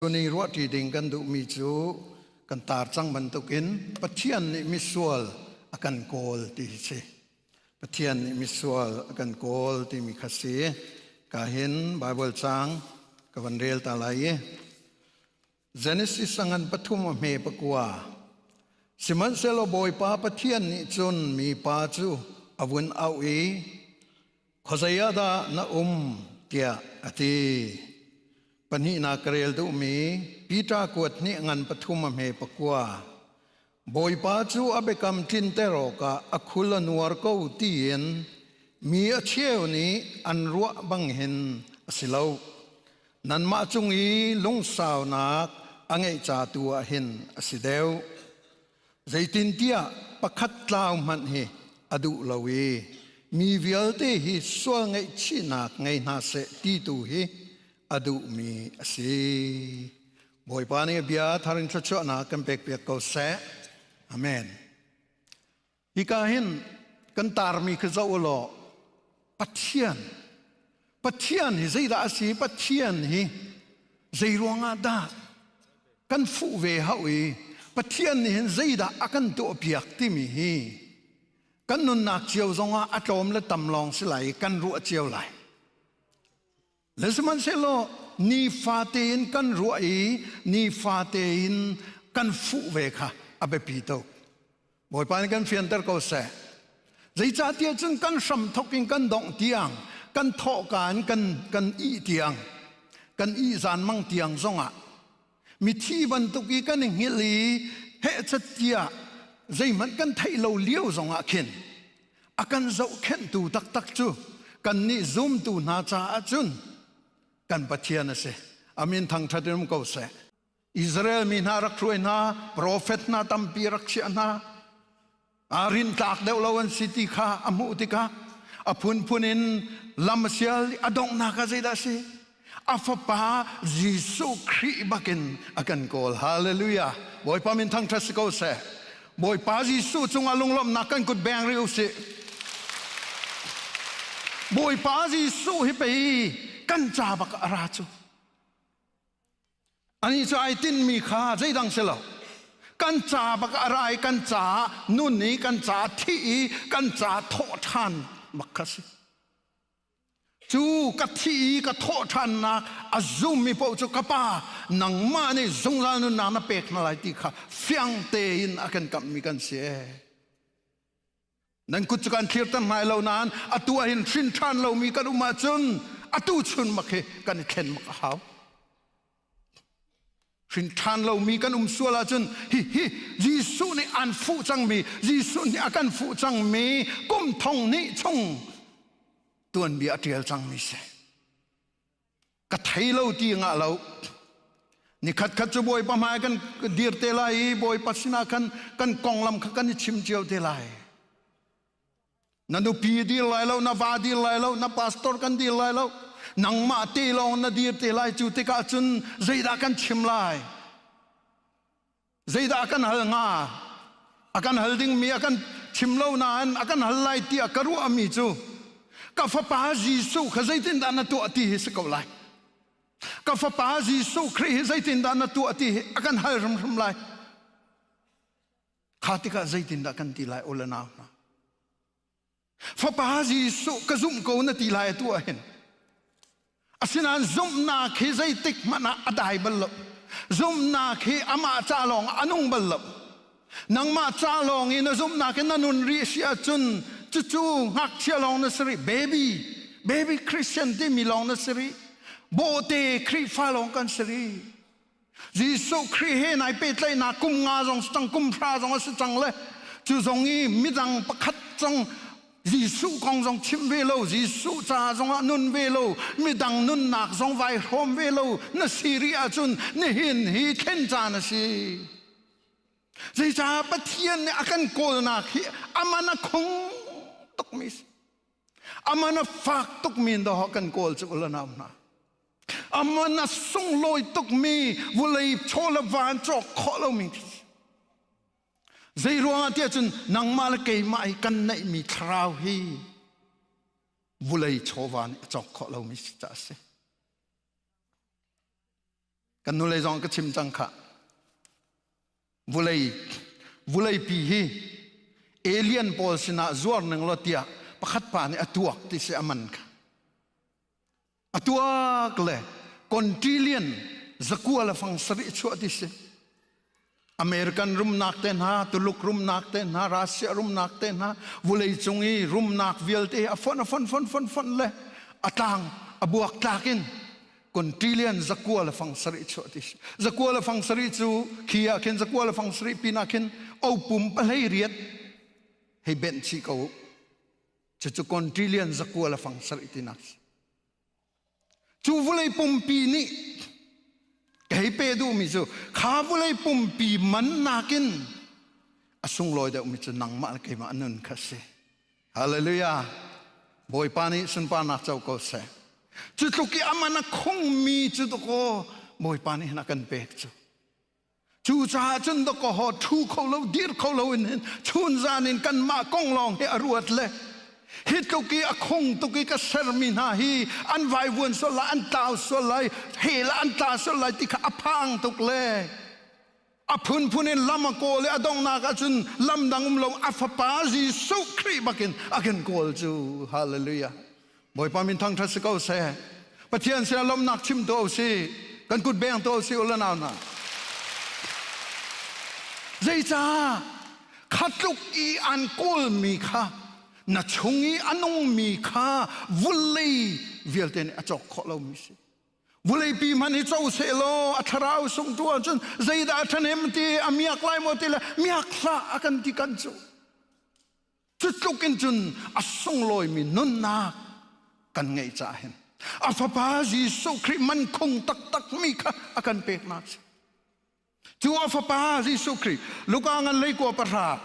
Cuni ruahṭi ding kan duhmi cu kan tar cang bantukin Pathian nih misual a kan kawl ti hi si. Pathian nih misual a kan kawl timi kha si. Ka hin Bible cang ka van rel ta lai i Genesis angan pathum a hme pakua Sihmanhsehlaw Bawipa Pathian nih cun mipa cu a vun auh i Khuazei ah dah na um? tiah a ti. Pahnihnak ka rel duhmi Peter kuat nih ngan pathum a hme pakua. Bawipa cu a biakam tlinter awkah a khul a nuar ko tiin mi a cheu nih an ruah bangin a si lo. Nanmah cung i lungsaunak a ngeih ca tu ah hin a si deuh. Zeitintiah pakhat tlau hmanh hi a duh lo i mi vialte hi sual ngaihchihnak ngei hna seh ti tu hi a duhmi a si. Bawipa nih bia thar in thluachuahnak kan pekpiak ko seh. Amen. Hika hin kan tarmi khi zoh u law Pathian. Pathian hi zeidah a si? Pathian hi zei ruangah dah kan fuh ve hau i Pathian nih hin zeidah a kan tuahpiak timi hi kan nunnak cio zongah a tlawm le tam lawng si lai i kan ruah cio lai. Le sihmanhsehlaw nifate in kan ruah i nifate in kan fuh ve kha a biapi tuk. Bawipa nih kan fianter ko seh. Zeicahtiah cun kan hram thok in kan dongh tiang, kan thawhka in kan, kan ih tiang, kan ih zan mang tiang zongah mithi bantuk i kan i hngilh i hehchat tiah zeihmanh kan theih lo lio zongah khin a kan zohkhenhtu taktak cu kannih zumtu hna caah cun kan Pathian a si amin thangṭhat in um ko seh Israel mi hna rak hruai hna profet hna tampi rak chiah hna aa rintlak deuh lo an si ti kha a hmuh tikah a phunphun in lam sial a donghnak ah zeidah a si a fapa jesuh khrih bakin a kan kawl hallelujah bawipa min thangthat si ko seh bawipa jesuh cungah lunglawmhnak kan kut beng rih usih bawipa jesuh hi pei kan ca bak a ra cu Anih cu ai tinhmi kha zeidang si lo. Kan ca bak a ra i kan ca nun i kan ca thih i kan ca thawh ṭhan bak kha si. Cu ka thih i ka thawh ṭhannak a zummi paoh cu ka pa nangmah nih zungzal nunnak na pek hna lai ti kha fiang tein a kan kamhmi kan si. nan kut cu kan thlirter hna lo nain atu ah hin hrin ṭhan lomi kan um ahcun atu chunmak hi kan i thlen mak a hau hrin ṭhan lomi kan um sual ahcun hi hi Jesuh nih aan fuh cangmi Jesuh nih a kan fuh cangmi kum thong hnih chung tuanbia a ṭial cangmi si ka thei lo ti ngah lo nikhat khat cu bawipa hmai kan dir te lai i bawipa sinah khan kan konglam kha kan i chim cio te lai na nupi dir lai lo na va dir lai lo na pastor kan dir lai lo nangmah te lawng na dir te lai cu tikah cun zeidah kan chim lai zeidah a kan hal hnga a kan hal dingmi a kan thim lo nain a kan hal lai tiah ka ruahmi cu ka fapa Jesuh kha zeitindah na tuah ti hi si ko lai ka fapa Jesuh Khrih hi zeitindah na tuah ti hi a kan hal hrimhrim lai kha tikah zeitindah kan ti lai ola nau hna Fapa Jesuh ka zumh ko na ti lai atu ah hin asinain zumhnak hi zeitik hmanh ah a dai bal lo zumhnak hi amah ca lawng a nung bal lo nangmah ca lawng i na zumhnak in na nun rih si ahcun cucu ngakchia lawng na si rih baby baby Christian timi lawng na si rih bawhte Khrihfa lawng kan si rih Jesuh Khrih he nai pehtlaihnak kum nga zong si cang, kum hra zong a si cang le cu zong i midang pakhat cang Jesuh kong zong chim ve lo, Jesuh caah zong ah nun ve lo, midang nunnak zong vai hrawm ve lo na si rih ahcun nihin hi thlen caan a si. Zeicah Pathian nih a kan kawlnak hi aman a khung tukmi si. Aman a fak tukmi dawh kan kawl cu ulanam hna. Aman a sunglawi tukmi vawlei chaw le van cawk khawh lomi zei ruangah tiah cun nangmah le keimah i kan neihmi thlarau hi vawlei chawva nih a cawk khawh lomi si caah a si. Kan nulei zong ka chim cang khah. Vawlei vawleipi hi alien pawl sinah zuar ning law tiah pakhat pa nih a tuak ti si a man kha. atuak le kontillion zakua le fang sarih chuah ti si american rumnak te hna tuluk rumnak te hna russia rumnak te hna vulei cung i rumnak vialte a fon a fon fon fon fon le a tlang a buak tlak in kontillion zakua le fang sarih chuah ti si zakua le fang sarih cu khi ah khin zakua le fang sarih pin ah khin opum palei riat hei benh chi ko cucu kontrilian zakua le fang sarih tinak cu vulei pumpi nih kei pe duhmi cu kha vulei pumpi man nakin a sunglawi deuhmi cu nangmah le keimah nun kha si hallelujah bawipa nih sunparnak co ko seh cu tluk i a man a khongmi cu dakaw bawipa nih na kan pek cu Cucaah cun dawkaw thu kho lo, dir kho lo in hin chun zan in kanmah kong lawng hi a ruat le hi tluk i a khung tuk i ka sermi hna hi an vaivuan sual lai, an tlau sual lai, hel ah an tla sual lai ti kha a phang tuk le a phunphun in lam a kawl i a donghnak ahcun lam dang um lo a fapa Jesuh Khrih bakin a kan kawl cu. Hallelujah. Bawipa min thangṭhat si ko seh. Pathian sinah lawmhnak chim tu si, kan kut beng tu si u le nau hna. Zeicah kha tluk i an kawlmi kha na chung i a nungmi kha vulei vialte nih a cawk khawh lomi si. Vuleipi hmanh hi co seh law a thlarau sung tu ahcun zeidah a ṭhahnem ti a miak lai maw ti le miak hlah a kan ti kan cu. Cutluk in cun a sunglawimi nunnak kan ngeih caah hin a fapa Jesuh Khrih man khung taktakmi kha a kan peknak a si. Cu a fapa Jesuh Khrih Luka ngan leikua pahra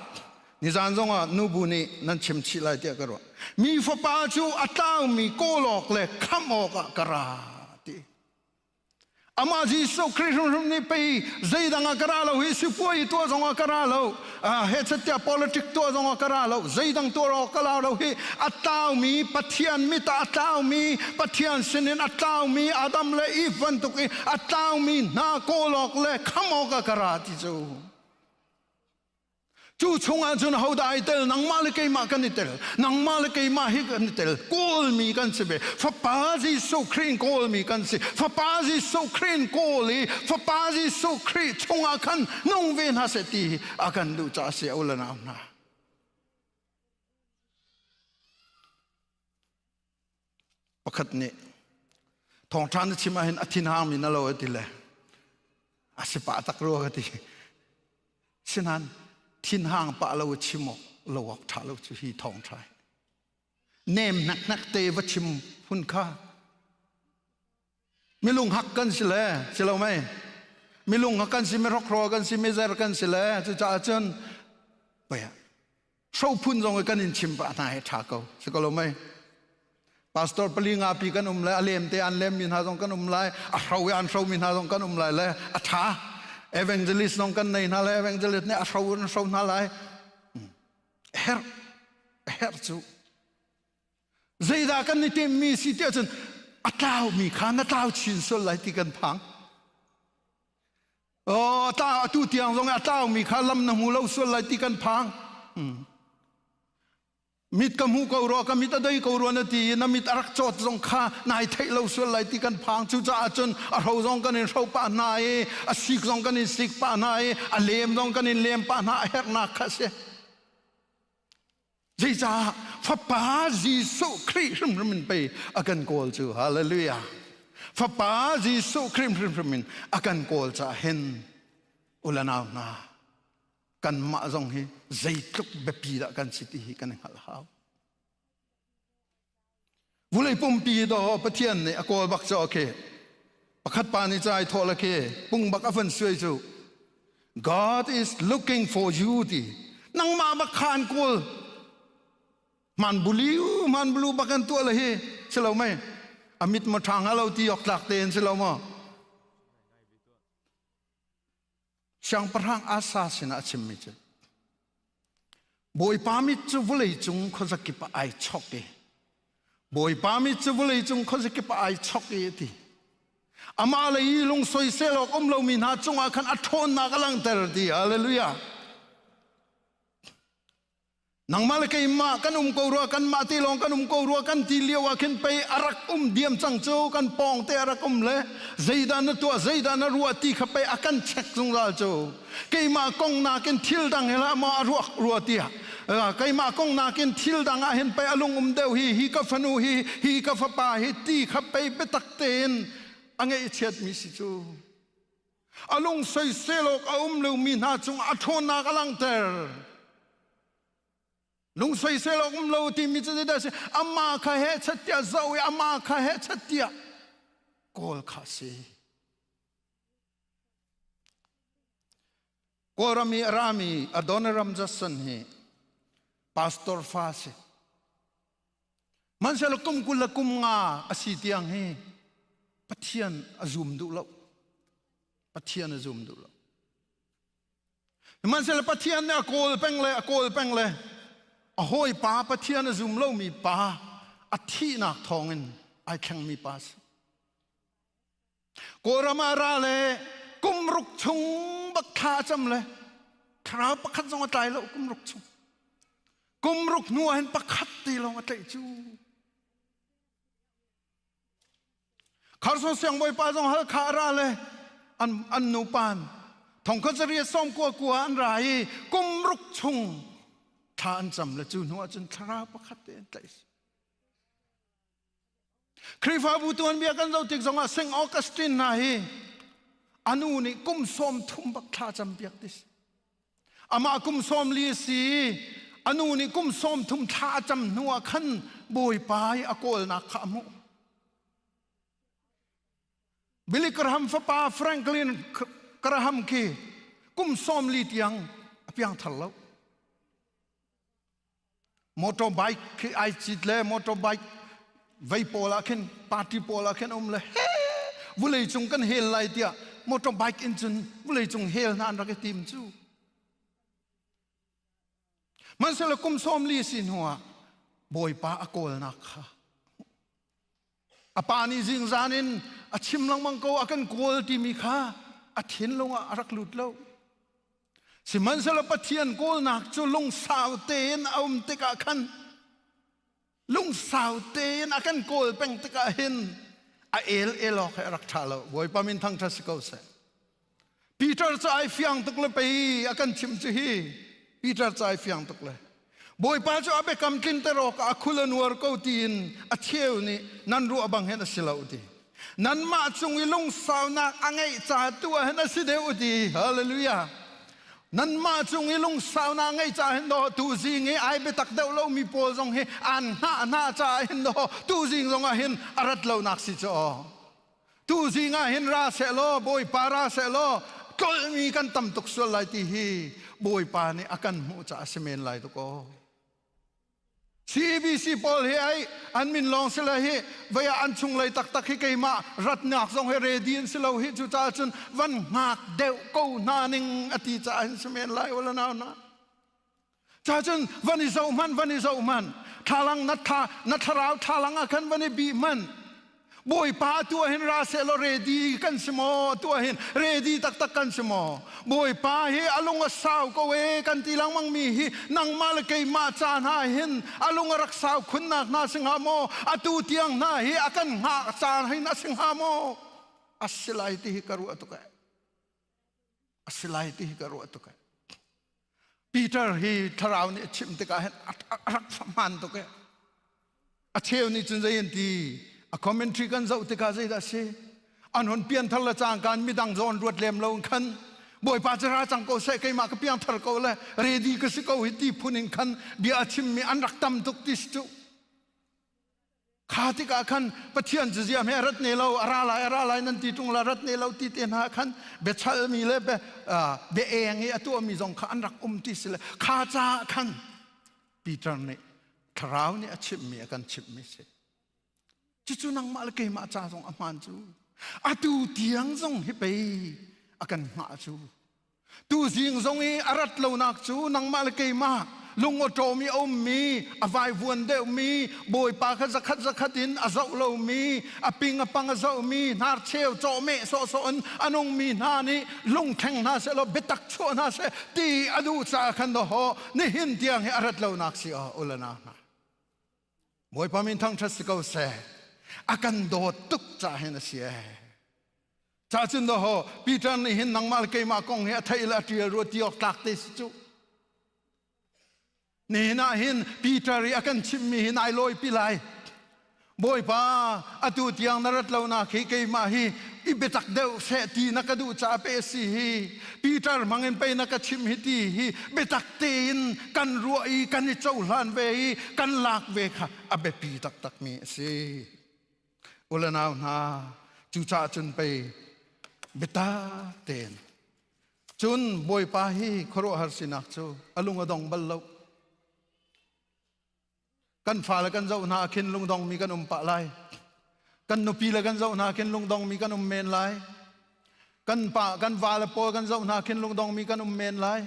nizan zongah nubu nih nan chim chih lai tiah ka ruah. Mi fapa cu a tlangmi kawlawk le khamh awkah ka ra ti. amah jesuh khrih hrimhrim nih pei zeidang ah ka ra lo hi sipuai tuah zong ah ka ra lo he catiah politic tuah zong ah ka ra lo zeidang tuah awk ka la lo hi a tlaumi pathian mit ah a tlaumi pathian sinin a tlaumi adam le eve bantuk in a tlaumi hna kawl awk le kham awk ah ka ra ti cu Cu chungah cun ahodah ai tel? Nangmah le keimah kan i tel. Nangmah le keimah hi kan i tel. Kawlmi kan si ve. Fapa Jesuh Khrih kawlmi kan si. Fapa Jesuh Khrih kawl i Fapa Jesuh Khrih chungah khan nung ve hna seh ti a kan duh caah si a u le nau hna. pakhat nih thawngṭha na chim ahhin a thinhangmi na lo a ti le a si pah tak rua ka ti sinain thinhang pah lo chim awk lo awk ṭha lo cu hi thawngṭha nem hnek hnek te va chim hun kha milung hak kan si le si lo mei milung hak kan si me rokro kan si me zer kan si le cucaah cun paya phun zong kan in chim pa hna he tha ko si ko lo mei pastor pali nga pi kan um lai a lem te an lem mi hna zong kan um lai a hro an hro mi hna zong kan um lai le a tha evangelist zong kan nei hna le evangelist ne a hro an hro hna lai hmm. her her cu Zeidah kan i timhmi si ti ahcun a tlaumi kha na tlau chin sual lai ti kan phang. Oh, tla, atu tiang zong a tlaumi kha lam na hmu lo sual lai ti kan phang. Hmm. Mit ka hmu ko rua, ka mit a dei ko rua na ti i na mit a rak cawt zong kha nai theih lo sual lai ti kan phang. Cucaah cun a ro zong kan in ro pah hna i a sik zong kan in sik pah hna i a lem zong kan in lem pah hna a herhnak kha a si. Zeicah Fapa Jesuh Khrih hrimhrim in pei a kan kawl cu hallelujah Fapa Jesuh Khrih hrimhrim in a kan kawl caah hin ulanau hna kanmah zong hi zeitluk biapi dah kan si ti hi kan i hngalh hau Vulei pumpi daw Pathian nih a kawl bak cu a khi pakhat pa nih cai thawh la khi pung bak a van suai cu God is looking for you ti nangmah bak khan kul man buliu man bulu bakan tua la hi silo mai amit ma thang alo ti ok tlak te an silo maw Siangpahrang Asa sinah a chimmi cu Bawipa mit cu vawlei cung khuazakip ah ai chok i Bawipa mit cu vawlei cung khuazakip ah ai chok i a ti amah lei i lungsoisel soisel awk um lomi hna cungah khan a ṭhawnnak a langhter ti halleluja nangmah le keimah kan um ko rua kanmah te lawng kan um ko rua kan ti lio ah khin pei a rak um diam cang cu kan pawng te a rak um le zeidah na tuah zeidah na ruah ti kha pei a kan check zungzal cu keimah kong nakin thil dang he la maw a ruak rua tiah keimah kong nakin thil dang ah hin pei a lungum deuh hi hi ka fanu hi hi ka fapa hi ti kha pei biatak tein a ngeih chiat mi si cu a lung soisel awk a um lomi hna cungah a ṭhawnnak a langhter. Lung soisel awk um lo timi cu zeidah a si? Amah kha hehchat tiah zoh i amah kha hehchat tiah kawl kha a si. Kawlram i a rami Adonai Ram Judson hi pastor fa a si. Mansial kum kul le kum nga a si tiang hi Pathian a zum duh lo. Pathian a zum duh lo. Mansial Pathian nih a kawl peng le a kawl peng le a hawi pa Pathian a zum lomi pa a thihnak thawngin ai thlengmi pa a si. Kawlram ah ra le kumruk chung bak thla a cam le thlarau pakhat zong a tlai lo kumruk chung. Kumruk hnu ah hin pakhat ti lawng a tlaih cu. Kharson siangbawipa zong halkha a ra le an, an nu pan thongkhan sari som kua kua an ra i kumruk chung thla an cam le cu hnu ah cun thlarau pakhat te an tlaih Khrihfabu tuanbia kan zoh tik zongah St. Augustine hna hi anu nih kum sawm thum bak thla campiak dis. Amah kum sawm li si anu nih kum sawm thum thla a cam hnu ah khan Bawipa i a kawlnak kha a hmuh. Billy Graham fapa Franklin Graham khi kum sawm li tiang a piang thar lo. motor bike khi ai cit le motor bike vei pawl ah khin party pawl ah khin um le he vulei cung kan hel lai tiah motor bike in cun vulei cung hel hna an rak i tim cu man sele kum sawm li sin hua bawipa a kawlnak kha a pa nih zingzan in a chim lengmang ko a kan kawl timi kha a thinlung ah a rak lut lo sihmanhsehlaw pathian kawlnak cu lungsau tein a um tikah khan lungsau tein a kan kawl peng tikah hin a el elawk he a rak ṭha lo bawipa min thangṭhat si ko seh Peter cu ai fiang tuk le pei a kan thim cu hi Peter cu ai fiang tuk le Bawipa cu a biakam tlin te rawk a khul a nuar ko tiin a cheu nih nan ruah bang hin a si lo ti nanmah cung i lungsaunak a ngeih ca tu ah hin a si deuh ti hallelujah nanmah cung i lungsaunak ngeih ca hin daw tu zing i ai biatak deuh lo mi pawl zong hi an hna hna ca hin daw tu zing zong ah hin a rat lonak si cu aw tuzing ah hin ra sehlaw bawipa ra sehlaw tlolmi kan tam tuk sual lai ti hi bawipa nih a kan hmuh caah a si men lai tuk aw CBC pawl hi ai an min lawng si le hi vaya an chung lei taktak hi keimah ratnak zong hi ready an si lo hi cu caah cun van ngak deuh ko hna ning a ti caah hin si men lai wala nau na Ca cun van i zoh hmanh van i zoh hmanh thlalang na thla na thlarau thlalang ah khan van i bih hmanh Bawipa tu ahin ra se law ready kan si maw tu ahin ready taktak kan si maw Bawipa hi alung a sau ko e kan ti langmang mi hi nangmah le keimah ca hna hin alung a rak sau khunnak hna si hnga maw atu tiang hna hi a kan hngak caan hin a si hnga maw a si lai ti hi ka ruah tuk e A si lai ti hi ka ruah tuk e. Peter hi thlarau nih a chimh tikah hin a rak hmaan tuk e. A cheu nih cun zei an ti, a commentary kan zoh tikah zeidah a si? An hun pianthar le cangkaan midang zawn ruat lem lo in khan Bawipa cu ra cang ko seh keimah ka piangthar ko le ready ka si ko hi ti phun in khan bia a chimmi an rak tam tuk ti si cu. kha tikah khan pathian cazia he rat ne lo a ra lai a ra lai nan ti ṭung la rat ne lo ti te hna khan biachalmi le be bia eng i a tuahmi zong kha an rak um ti si le kha caah khan Peter nih thlarau nih a chimmi a kan chimhmi si cucu nangmah le keimah ca zong a hmaan cu atu tiang zong hi pei a kan ngah cu Tuzing zong i a rat lonak cu nangmah le keimah lungawṭawm i a ummi, a vaivuan deuhmi, bawipa kha zakhat zakhat in a zoh lomi, a ping a pang a zohmi, hnarcheu cawhmeh sawhsawh in a nungmi hna nih lungthleng hna seh law biatak chuah hna seh ti a duh caah khan dawh nihin tiang hi a rat lonak si aww ulana hna. Bawipa min thangṭhat si ko seh a kan dawt tuk ca hin a si ee ca cun daw ho Peter nih hin nangmah le keimah kong hi a theih le a ṭial ruat ti awk tlak te si cu nihin ah hin Peter i a kan chimhmi hi nai lawipi lai Bawipa atu tiang na rat lonak hi keimah hi i biatak deuh seh ti na ka duh caah pe a si hi Peter hmangin peinak ka chim hi ti hi biatak tein kan ruah i kan i cohlan ve i kan lak ve kha a biapi taktakmi a si. Ulenau hna, cucaah cun pei biata tein cun Bawipa hi khuaruahhar sinak cu a lung a dong bal lo. kan fale kan zoh hna khin lungdongmi kan um pah lai kan nupi le kan zoh hna khin lungdongmi kan um men lai kan pa kan va le pawl kan zoh hna khin lungdongmi kan um men lai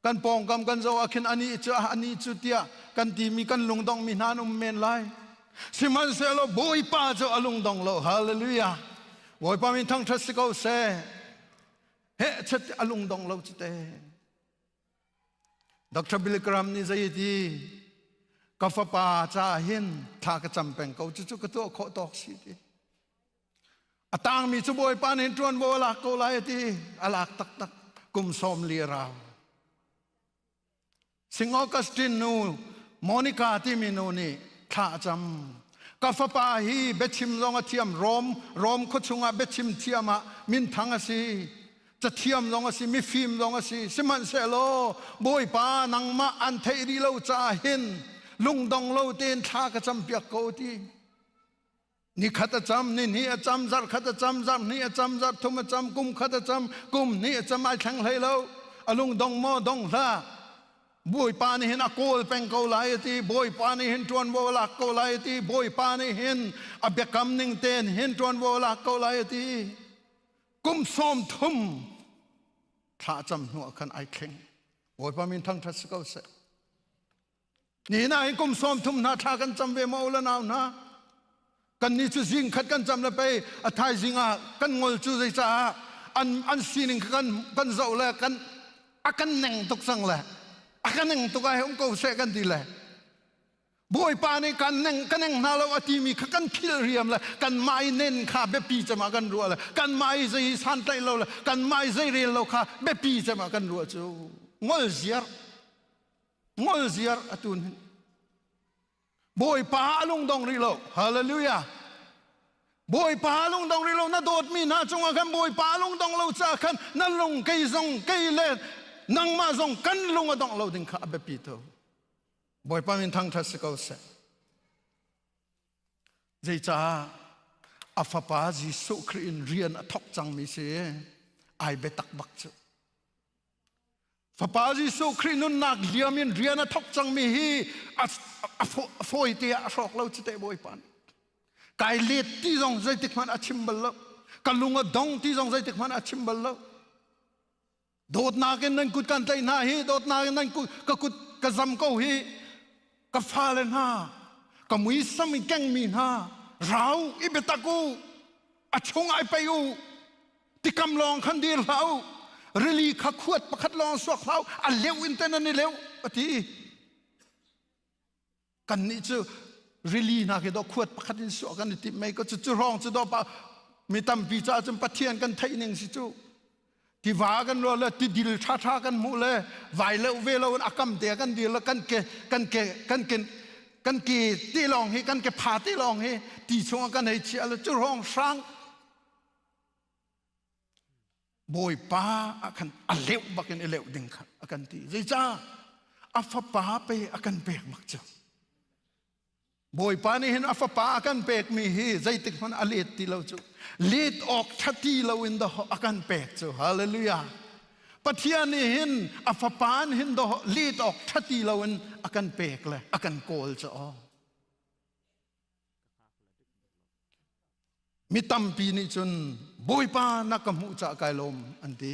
kan pawngkam kan zoh ah khin ani cu ah ani cu tiah kan timi kan lungdongmi hna an um men lai sihmanhsehlaw bawipa cu a lungdong lo hallelujah bawipa min thangthat si ko se he chet a lungdong lo cite Dr. Bill Graham nih zei a ti? Ka fapa caah hin thla ka cam peng ko cucu ka tuah khawh tawk si ti. A tangmi cu Bawipa nih ṭuanvo a lak ko lai a ti. A lak taktak kum sawm li a rau. St. Augustine nu Monica timi nu nih thla a cam. Ka fapa hi biachim zong a thiam. Rom, Rom khuachung ah biachim thiam ah minthang a si. cathiam zong a si mifim zong a si sihmanhsehlaw bawipa nangmah an theih rih lo caah hin lungdong lo tein thla ka campiak ko ti ni khat a cam ni hnih a cam zarh khat a cam zarh hnih a cam zarh thum a cam kum khat a cam kum hnih a cam ai thleng hlei lo a lungdong maw dong hla bawipa nih hin a kawl peng ko lai ti bawipa nih hin ṭuanvo a lak ko lai ti bawipa nih hin a biakam ning ten hin ṭuanvo a lak ko lai ti kum sawm thum thlacam hnu ah khan ai thleng bawipa min thangthat si ko seh ni na hi kum sawm thum hna thla kan cam ve ma ula nau hna kan ni cu zing khat kan cam le pei a thaizing ah kan ngol cu zei caah an an sining kha kan kan zoh le kan a kan neng tuk sang le a kan neng tuk ai hung ko se kan ti le Bawipa nih kan eng hna lo a timi kha kan khilhriam le kanmah i nen kha biapi cemah kan ruah le kanmah i zei santlaih lo le kanmah i zei rel lo kha biapi cemah kan ruah cu ngol ziar ngol ziar a tun hin Bawipa a lungdong rih lo hallelujah Bawipa lungdong rih lo na dawtmi hna cungah khan Bawipa lungdong lo caah khan na lung kei zong kei le nangmah zong kan lung a dong lo ding kha a biapi to Bawipa min thangṭhat si ko seh. Zeicah a fapa Jesuh Khrih in rian a thawk cangmi si ai biatak bak cu. Fapa Jesuh Khrih nunnak liam in rian a thawk cangmi hi a fawi te ah a hrawk lo cu te Bawipa nih. Kai let ti zong zeitik hmanh a chim bal lo. Ka lung a dong ti zong zeitik hmanh a chim bal lo. dawtnak in nan kut kan tlaih hna hi dawtnak in nan kut ka kut ka zam ko hi ka fale hna ka muisam i keng mi hna rau i biatak u a chung ai pei u tikam lawng khan dir hlah u rili kha khuat pakhat lawng suak hlah u a leu in te nan i leu a ti kan nih cu rili hna khi do khuat pakhat in suah kan i timh mei ko cu rong cu do pa mi tampi ca cun pathian kan theih ning si cu tiva kan rual le tidil tha tha kan hmuh le vai le ve lo in akam te kan dil le kan ke kan ke kan ke kan ke ti lawng hi kan ke pha ti lawng hi ti chung kan hei chia le cu rong hrang Bawipa a kan a leuh bakin i leuh ding kha a kan ti. Zeicah? A fapa pe a kan pek mak cu. Bawipa nih hin a fapa a kan pekmi hi zeitik hmanh a let ti lo cu. Let awk ṭha ti loin dawh a kan pek cu. Hallelujah. Pathian nih hin a fapa nih hin dawh let awk ṭha ti loin a kan pek le a kan kawl cu aw. Mi tampi nih cun Bawipa na ka hmuh cah kai lawm an ti.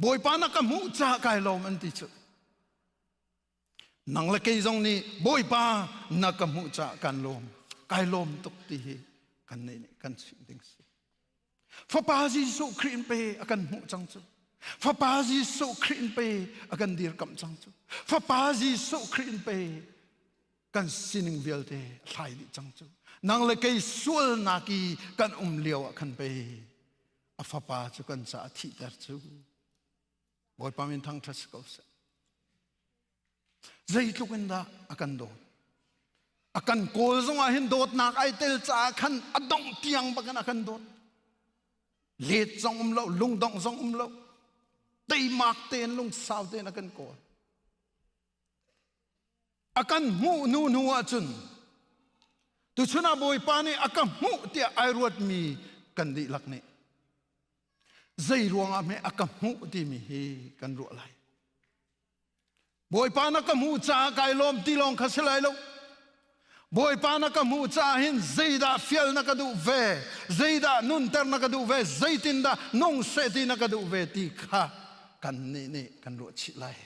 Bawipa na ka hmuh cah kai lawm an ti cu. Nang le kei zong nih Bawipa na ka hmuh cah kan lawm. Kai lawm tuk ti hi kan nei nih kan chim ding si. Fapa Jesuh Khrih in pe a kan hmuh cang cu. Fapa Jesuh Khrih in pe a kan dirkamh cang cu. Fapa Jesuh Khrih in pe kan sining vialte thlai dih cang cu. Nang le kei sualnak i kan um lio ah khan pe a fapa cu kan caah thihter cu. Bawipa min thangṭhat si ko seh. zeitluk in dah a kan dawt a kan kawl zongah hin dawtnak ai tel caah khan a dongh tiang bakin a kan dawt let zong um lo lungdongh zong um lo teimak tein lungsau tein a kan kawl a kan hmuh nu hnu ahcun tuchun ah bawipa nih a ka hmuh tiah ai ruatmi kan dihlak nih zei ruangah meh a ka hmuh timi hi kan ruah lai Bawipa na ka hmuh caah kai lawm ti lawng kha si lai lo. Bawipa na ka hmuh caah hin zeidah fial na ka duh ve, zeidah nunter na ka duh ve, zeitindah nung seh ti na ka duh ve ti kha kan nih nih kan ruah chih lai.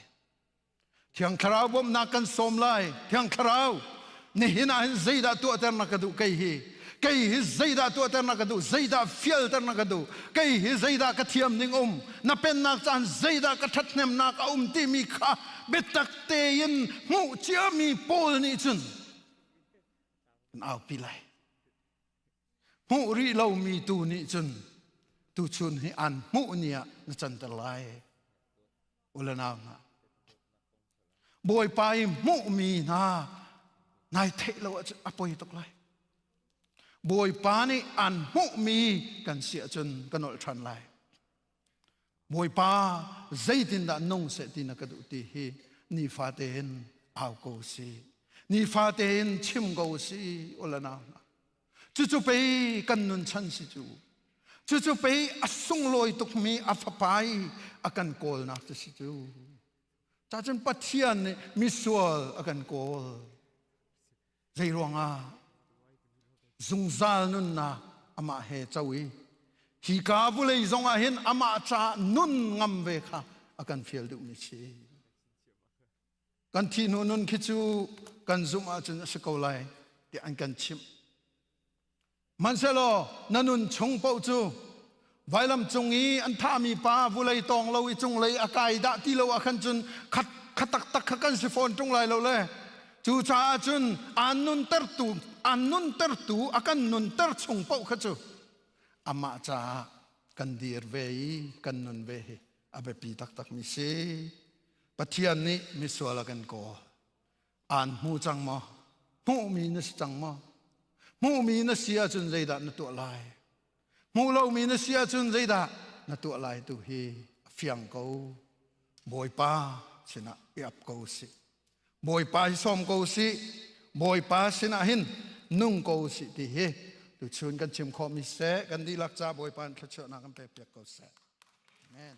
Thiang Thlarau bawmhnak kan sawm lai. Thiang Thlarau, Nihin ah hin zeidah tuahter na ka duh kei hi? Kei hi zeidah tuahter na ka duh? Zeidah fialter na ka duh? Kei hi zeidah ka thiam ding um? Na pennak caan zeidah ka ṭhathnemnak a um timi kha biatak tein hmuh ciami pawl nih cun kan aupi lai. Hmuh rih lomi tu nih cun tuchun hi an hmuh ni ah na canter lai. ulanau hna bawipa i hmuhmi hna nai theih lo ahcun a poi tuk lai bawipa nih an hmuhmi kan si ahcun kan olh ṭhan lai bawipa zeitindah nung seh ti na ka duh ti hi nifate in au ko si nifate in chim ko si ulanau hna cucu pei kan nun chan si cu cucu pei a sunglawi tukmi a fapai a kan kawlnak cu si cu cacun pathian nih misual a kan kawl zei ruangah zungzal nunnak amah he co i hi ka vulei zongah hin amah ca nun ngam ve kha a kan fial duhmi si Kan thih hnu nun khi cu kan zumh ahcun a si ko lai ti an kan chimh. Manhselaw na nun chung paoh cu vailam cung i an thahmi pa vulei tawng lo i cunglei a kai dah ti lo ah khan cun khat kha taktak kha kan si fawn ṭung lai lo le cu caah cun aan nuntertu aan nuntertu a kan nunter chung paoh kha cu amah caah kan dir ve i kan nun ve hi a biapi taktakmi si pathian nih misual a kan kaw aan hmu cang maw hmuhmi na si cang maw hmuhmi na si ahcun zeidah na tuah lai hmuh lomi na si ahcun zeidah na tuah lai tu hi a fiang ko bawipa sinah i ap ko si Bawipa hi sawm ko si Bawipa sinah hin nung ko si ti hi tu chun kan chim khawh mi seh kan dihlak ca Bawipa in thluachuahnak kan pe piak ko seh. Amen.